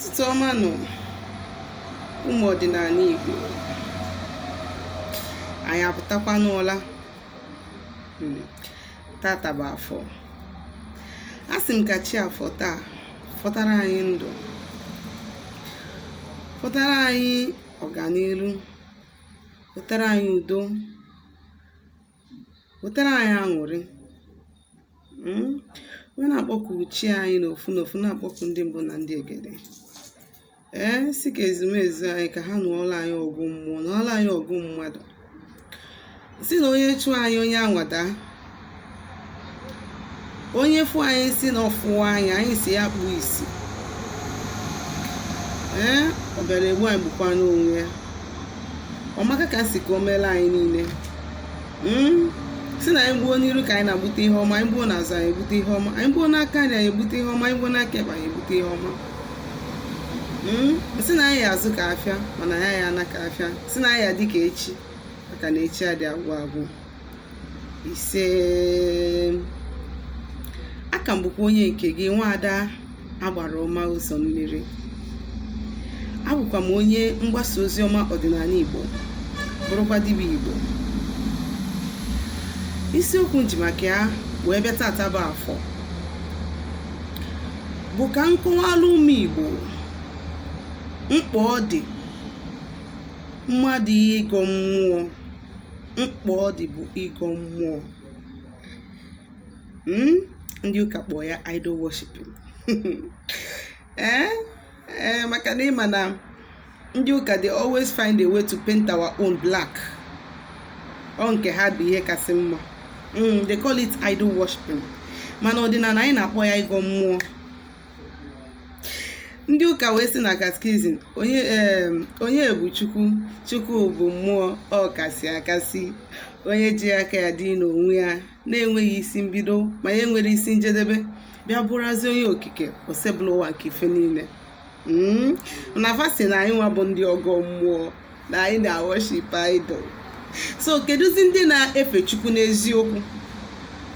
ụtụtụ ọma nụ ụmụ ọdịnanị Igbo anyị apụtakwa n'ụla hmm. tata bụ afọ asị m ka chi afọ taa fọtara anyị ndụ fọtara anyị ọganiru fọtara anyị udo wetara anyị aṅụrị hmm? m wee na-akpọku chi anyị n'ofu n'ofu na-akpọku ndị mbụ na ndị egede ee eh, sị ka ezumezu anyị ka ha nụọla anyị ọgụ mmụọ nụọla anyị ọgụ mmadụ sị na onye chụọ anyị onye anwa adaa onye fụ anyị sị na ọ fụhọ anyị anyị sị ya kpuo isi ee ọ bịara egbu anyị gbukwanụ onwe ya ọmaka ka sị ka o meela anyị niile hmm? sị na anyị gbuo n'iru ka anyị na-agbute ihe ọma anyị gbuo n'azụ anyị egbute ihe ọma anyị gbuo n'aka nri anyị egbute ihe ọma anyị gbuo n'aka ekpe anyị egbute ihe ọma hmm? sị na anyị ya-azụ ka afịa mana anyị aya ana ka afịa sị na anyị ya-adị ka echi maka na echi adị agwụ agwụ ise aka m bụkwa onye nke gị nwaada agbara ọma ụzọ mmiri abụkwa m onye mgbasa ozi ọma ọdịnanị igbo bụrụkwa dibịa igbo isiokwu m ji maka ya wee bịa tata bụ afọ bụ ka m kọwalụ ụmụ igbo mkpa ọ dị mmadụ ịgọ mmụọ mkpa ọ dị bụ ịgọ mmụọ hmm? ndị ụka kpọọ ya idol worshiping ee eh? eh, maka na ị ma na ndị ụka dey always find a way to paint our own black ọ nke ha bụ ihe kasị mma hmm, they call it idol worshiping mana ọdịnanị anyị na-akpọ ya ịgọ mmụọ ndị ụka wee sị na katkizim onye bụ chukwu chukwu bụ mmụọ ọkasị akasị onye ji aka ya dị n'onwe ya na-enweghị isi mbido ma ya enwere isi njedebe bịa bụrụzị onye okike osebụlụwa nke ife niile hmm? na fa sị na anyị nwa bụ ndị ọgọ mmụọ na anyị na-worship idol so kedụzi ndị na-efe chukwu n'eziokwu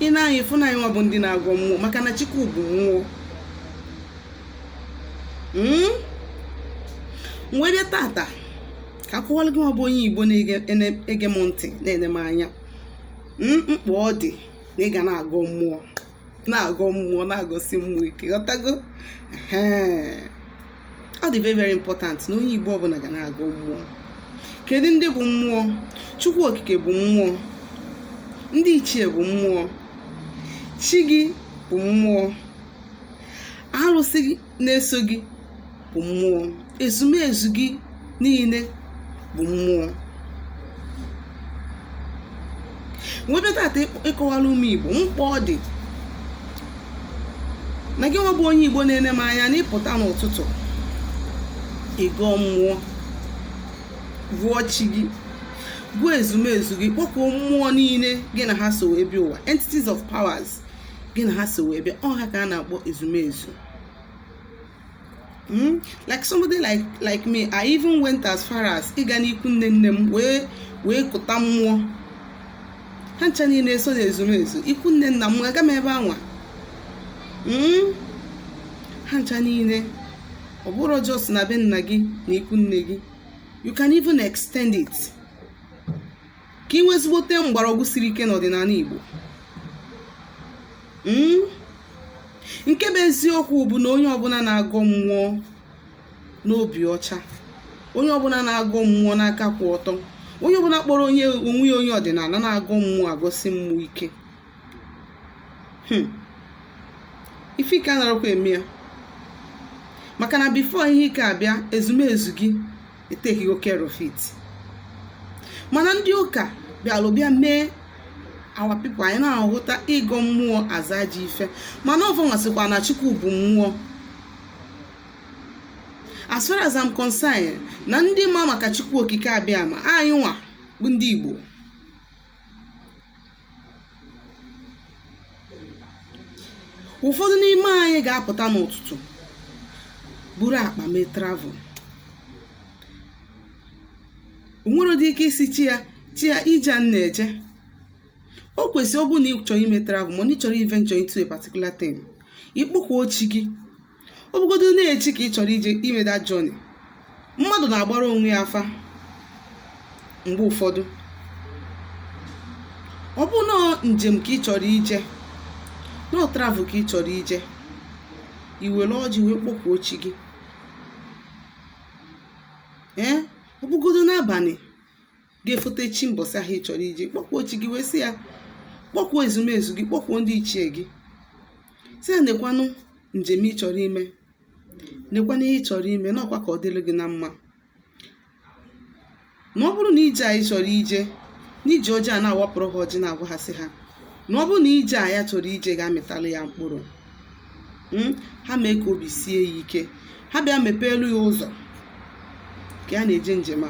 i nee anya ị fụ na anyị nwa bụ ndị na-agọ mmụọ maka na chukwu bụ mmụọ hmm? m wee bịa tata ka a kọwalụ gị nwa bụ onye igbo na-ege m ntị na-ene m anya hmm, mkpa ọ dị na ị ga na-agọ mmụọ na-agọ mmụọ na-agọsi mmụọ ike ghọtago ọ dị very very important na onye Igbo ọbụla ga na-agọ mmụọ kedu ndị bụ mmụọ Chukwu okike bụ mmụọ ndị ichie bụ mmụọ chi gị bụ mmụọ arụsị gị na-eso gị bụ mmụọ ezumezu gị niile bụ mmụọ m wee bịa tata ịkọwara ụmụ igbo mkpa ọ dị na gị nwa bụ onye igbo na-ene m anya na ịpụta n'ụtụtụ ịgọ mmụọ gọọ chi gị gọọ ezumezu gị kpọkuo mmụọ niile gị na ha so wee bịa ụwa entities of powers gị na ha so wee bịa ọ ha ka a na-akpọ ezumezu hmm? like somebody like like me I even went as far as ịga n'ikwu nne nne m wee wee kụta mmụọ ha ncha niile so na ezumezu ikwu nne nna m aga m ebe anwa hmm? ha ncha niile ọ bụrọ just na be nna gị na ikwu nne gị you can even extend it ka i nwee ezigbote mgbọrọgwụ siri ike n'ọdịnala Igbo hmm? nke bụ eziokwu bụ na onye ọbụla na-agọ mmụọ n'obi ọcha onye ọbụla na-agọ mmụọ n'aka kwụ ọtọ onye ọbụla kpọrọ onye onwe ya onye ọdịnala na-agọ mmụọ agọsi mmụọ ike hmm. ife ike anarọkwa eme ya maka na before ihe ike abịa ezumezu gị etakego care of it mana ndị ụka bịalụ bịa mee our people anyị na-ahụta ịgọ mmụọ as ajọ ife mana ọ fa nwa sịkwa na chukwu bụ mmụọ as far as I'm concerned na ndị ma maka chukwu okike abịama anyị nwa bụ ndị igbo ụfọdụ n'ime anyị ga-apụta n'ụtụtụ buru akpa mee travel o nwerọdị ike ịsị chi ya chi ya ije a na-eje o kwesịrị ọ bụrụ na ị chọrọ ime travel ma na ị chọrọ iventure into a particular thing ị kpọkuo chi gị ọ bụgodo na echi ka ị chọrọ ije ime that journey mmadụ na-agbara onwe ya afa mgbe ụfọdụ ọ bụrụ na ọ njem ka ị chọrọ ije na ọ travel ka ị chọrọ ije i were ọjị wee kpọkuo chi gị ee ọ bụgodo n'abalị ga-efote chi mbọsị ahụ ị chọrọ ije kpọkuo chi gị wee sị ya kpọkuo ezumezu gị kpọkuo ndị ichie gị sị ya nekwanụ njem ị chọrọ ime nekwanụ ihe ị chọrọ ime na ọkwa ka ọ dịrị gị na mma na ọ bụrụ na ije a ị chọrọ ije n'iji ọjị a na-awapụrụ ha ọjị na-agwa ha sị ha na ọ bụrụ na ije a ya chọrọ ije ga-amịtali ya mkpụrụ hmm? ha mee ka obi sie ya ike ha bịa mepeelụ ya ụzọ ka ya na-eje njem a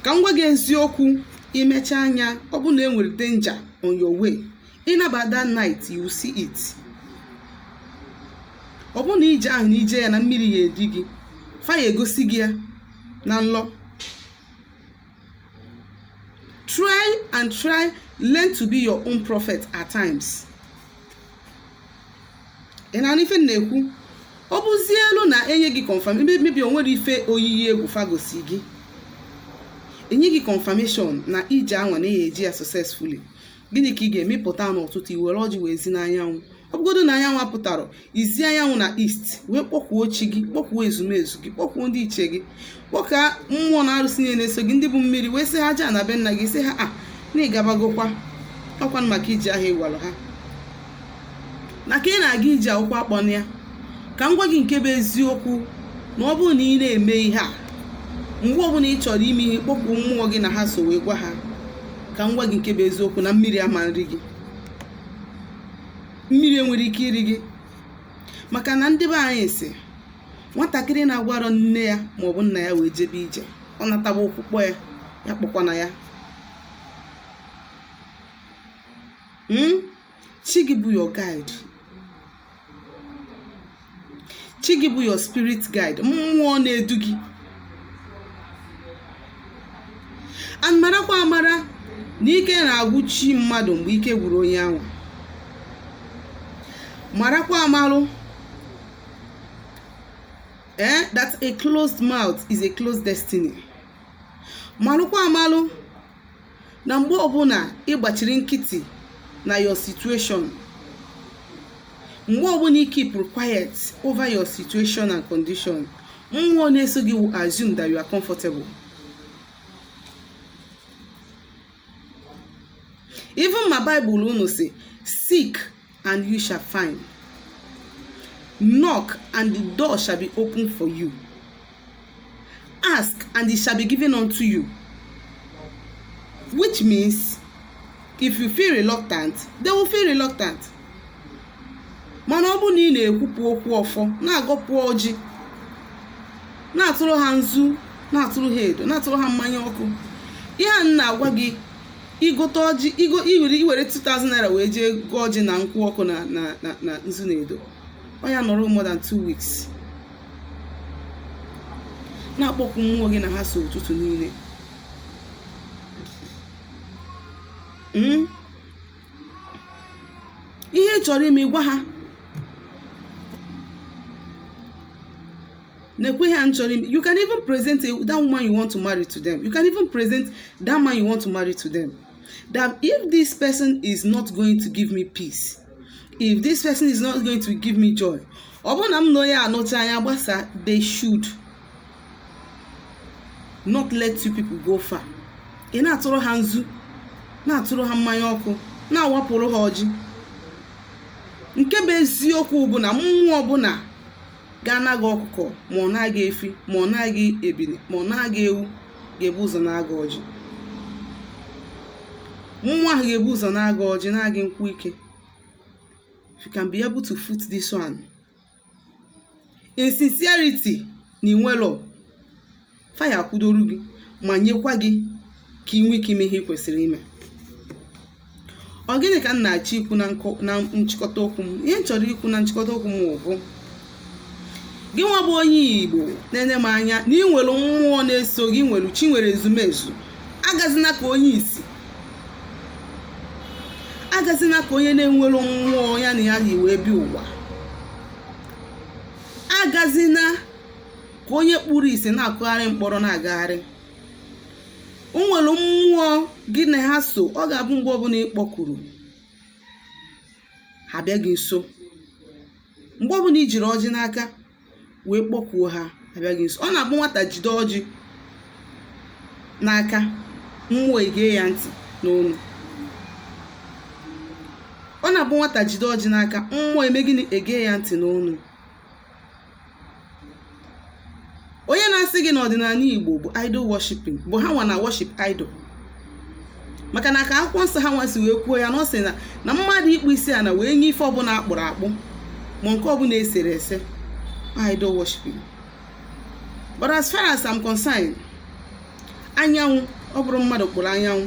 ka m gwa gị eziokwu imecha anya ọ bụ na e nwere danger on your way ị naba that night you see it ọ bụ na ije ahụ na i je ya na mmiri ya-eri gị fa ya-egosi gị ya na nlọ try and try learn to be your own prophet at times ị na-anụ ife m na-ekwu ọ bụzielụ na enye gị confirm ebe maybe o nwere ife oyiyi egwu fa gosi gị enye gị confirmation na ije anwa na ị ya-eje ya successfully gịnị ka ị ga-eme ị pụta n'ụtụtụ i were ọjị wee zi n'anyanwụ ọ bụgodo na anyanwụ apụtara i zi anyanwụ na east wee kpọkuo chi gị kpọkuo ezumezu gị kpọkuo ndị ichie gị kpọkuo mmụọ na arụsị niile na-eso gị ndị bụ mmiri wee sị ha ajana be nna gị sị ha na ị gabagokwa ọkwanụ maka ije ahụ ị gwalụ ha na ka ị na-aga ije a ka ụkwụ akpọna ya ka m gwa gị nke bụ eziokwu na ọ bụrụ na ị na-eme ihe a mgbe ọbụla ị chọrọ ime ihe kpọkuo mmụọ gị na ha so wee gwa ha ka m gwa gị nke bụ eziokwu na mmiri ama nri gị mmiri enwere ike iri gị maka na ndị be anyị sị nwatakịrị na-agwarọ nne ya ma ọ bụ nna ya wee jebe ije ọ nataba ụkwụ kpọ ya ya akpọkwana ya hmm? chi gị bụ your guide chi gị bụ your spirit guide mmụọ na-edu gị and marakwa amara na ike na-agwụ chi mmadụ mgbe ike gwụrụ onye ahụ marakwa amalụ eh that a closed mouth is a closed destiny malụkwa amalụ na mgbe ọbụla ị gbachiri nkịtị na your situation mgbe ọbụla ị keepụrụ quiet over your situation and condition mmụọ na-eso gị will assume that you are comfortable even ma Bible unu sị seek and you shall find. Knock, and the door shall be open for you. Ask, and it shall be given unto you. Which means, if you feel reluctant, they will feel reluctant. mana ọ bụrụ na ị na-ekwupụ okwu ọfọ na-agọpụ ọjị na-atụrụ ha nzu na-atụrụ ha edo na-atụrụ ha mmanya ọkụ ihe a na-agwa gị i gote ọjị i go i were i were 2000 naira wee jee goo ọjị na nkwụ ọkụ na na na na nzu na edo ọ ya-anọru more than 2 weeks na-akpọku mmụọ gị na ha so ụtụtụ niile Mm. ihe ị chọrọ ime gwa ha nekwe ihe a m chọrọ ime you can even present a- that woman you want to marry to them you can even present that man you want to marry to them that if this person is not going to give me peace if this person is not going to give me joy ọ bụrụ na m na onye a nọcha anyị agbasa they should not let you people go far ị na-atụrụ ha nzu na-atụrụ ha mmanya ọkụ na-awapụrụ ha ọjị nke bụ eziokwu bụ na mmụọ ọbụla ga-ana gị ọkụkọ ma ọ naa gị efi ma ọ naa gị ebili ma ọ naa gị ewu ga-ebu ụzọ naa gị ọjị mmụọ ahụ ga-ebu ụzọ naa gị ọjị naa gị nkwụ ike if you can be able to foot this one in sincerity na i nwelo fa ya-akwụdoro gị ma nyekwa gị ka ị nwee ike ime ihe ị kwesịrị ime ọ gịnị ka m na-achọ ikwu na nkọ- na nchịkọta okwu m ihe m chọrọ ikwu na nchịkọta okwu m bụ gị nwa bụ onye igbo na-ene m anya na ị nwere mmụọ na-eso gị nwere chi nwere ezumezu agazina ka onye isi agazina ka onye na-enwero mmụọ ya na ya yi wee bịa ụwa agazina ka onye kpuru isi na-akụgharị mkpọrọ na-agagharị o nwere mmụọ gị na ha so ọ ga-abụ mgbe ọbụla ị kpọkuru ha abịa gị nso mgbe ọbụla i jiri ọjị n'aka wee kpọkuo ha abịa gị nso ọ na-abụ nwata jide ọjị n'aka mmụọ ege ya ntị n'onu ọ na-abụ nwata jide ọjị n'aka mmụọ eme gịnị ege ya ntị n'onu onye na-asị gị na ọdịnanị igbo bụ idol worshiping bụ ha nwa na-worship idol maka na ka akwụkwọ nsọ ha nwa si wee kwuo ya na ọ sị na na mmadụ ịkpụ isi ana wee nye ife ọbụla akpụrụ akpụ ma nke ọbụla esere ese idol worshiping but as far as I'm concerned anyanwụ ọ bụrọ mmadụ kpụrụ anyanwụ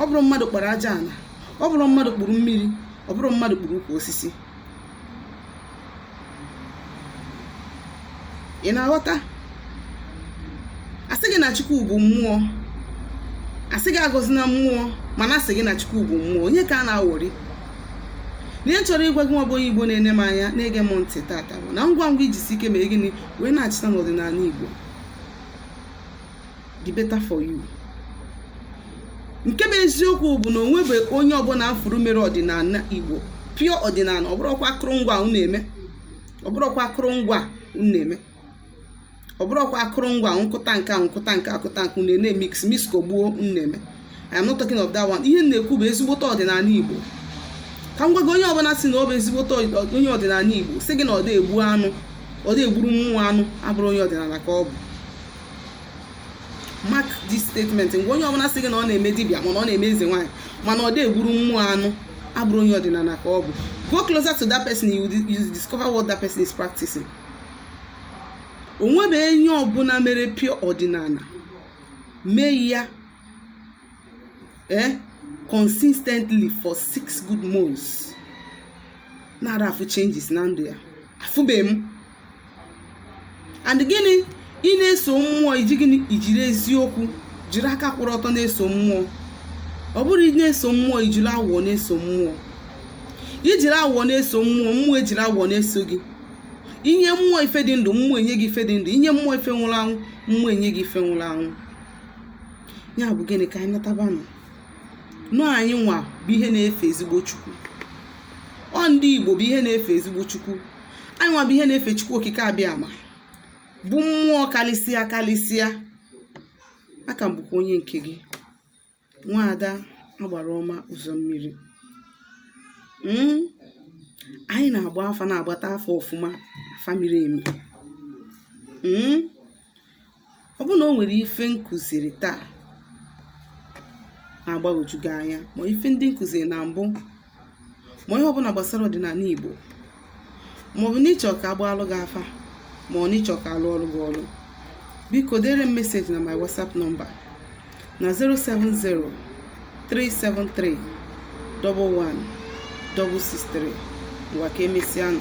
ọ bụrọ mmadụ kpụrụ aja ana ọ bụrọ mmadụ kpụrụ mmiri ọ bụrọ mmadụ kpụrụ ukwu osisi ị na-aghọta a sị gị na chukwu bụ mmụọ a sị gị agọzina mmụọ mana a sị gị na chukwu bụ mmụọ onye ka a na-awọri ihe m chọrọ ịgwa gị nwa bụ onye igbo na-ene m anya na-ege m ntị tata bụ na ngwa ngwa i jisie ike mee gịnị wee nachita n'ọdịnanị igbo the better for you nke bụ eziokwu bụ na onwebe onye ọbụla afụrụ mere ọdịnala igbo pure ọdịnala ọ bụrọkwa akụrụngwa unu na-eme ọ bụrọkwa akụrụngwa unu na-eme ọ bụrọkwa akụrụngwa nkụta nke nkụta nke akụta nke unu na-eme mix mix kogbuo unu na-eme I am not talking of that one ihe na-ekwu bụ ezigbote ọdịnala igbo ka m gwa gị onye ọbụla si na ọ bụ ezigbote onye ọdịnala igbo sị gị na ọ dị egbu anụ ọ dị egburu mmụọ anụ abụrụ onye ọdịnala ka ọ bụ mark this statement ngwa onye ọbụla sị gị na ọ na-eme dibịa mana ọ na-eme eze nwaanyị mana ọ dị egburu mmụọ anụ abụrụ onye ọdịnala ka ọ bụ go closer to that person you discover what that person is practicing onwebe onye ọbụla mere pure ọdịnala mee ya eh consistently for six good months na-ara afụ changes na ndụ ya afụbeghị m and gịnị ị na-eso mmụọ iji gịnị ijiri eziokwu jiri aka kwụrụ ọtọ na-eso mmụọ ọ bụrụ ị na-eso mmụọ ijiri awụwọ na-eso mmụọ ijiri awụwọ na-eso mmụọ mmụọ ejiri awụwọ na-eso gị inye mmụọ ife dị ndụ mmụọ enye gị ife dị ndụ inye mmụọ ife nwụrụ anwụ mmụọ enye gị ife nwụrụ anwụ ya bụ gịnị ka anyị natabanụ ụnọ anyị nwa bụ ihe na-efe ezigbo chukwu ọ ndị igbo bụ ihe na-efe ezigbo chukwu anyị nwa bụ ihe na-efe chukwu okike abiama bụ mmụọ kalịsịa kalịsịa a ka m bụkwa onye nke gị nwaada agbara ọma ụzọ mmiri Mm. anyị na-agba afa na-agbata afa ọfụma afa miri emi Mm. ọ bụrụ na o nwere ife m kụziri taa na-agbagwoju gị anya ma ife ndị m kụziri na mbụ ma ihe ọbụla gbasara ọdịnala Igbo ma ọ bụ n'ịchọ ka agbaalụ gị afa ma ọ n'ịchọ ka alụọrọ gị ọlụ biko dere m meseji na my WhatsApp nọmba na 070 373 11 163 ngwa ka emesịa nụ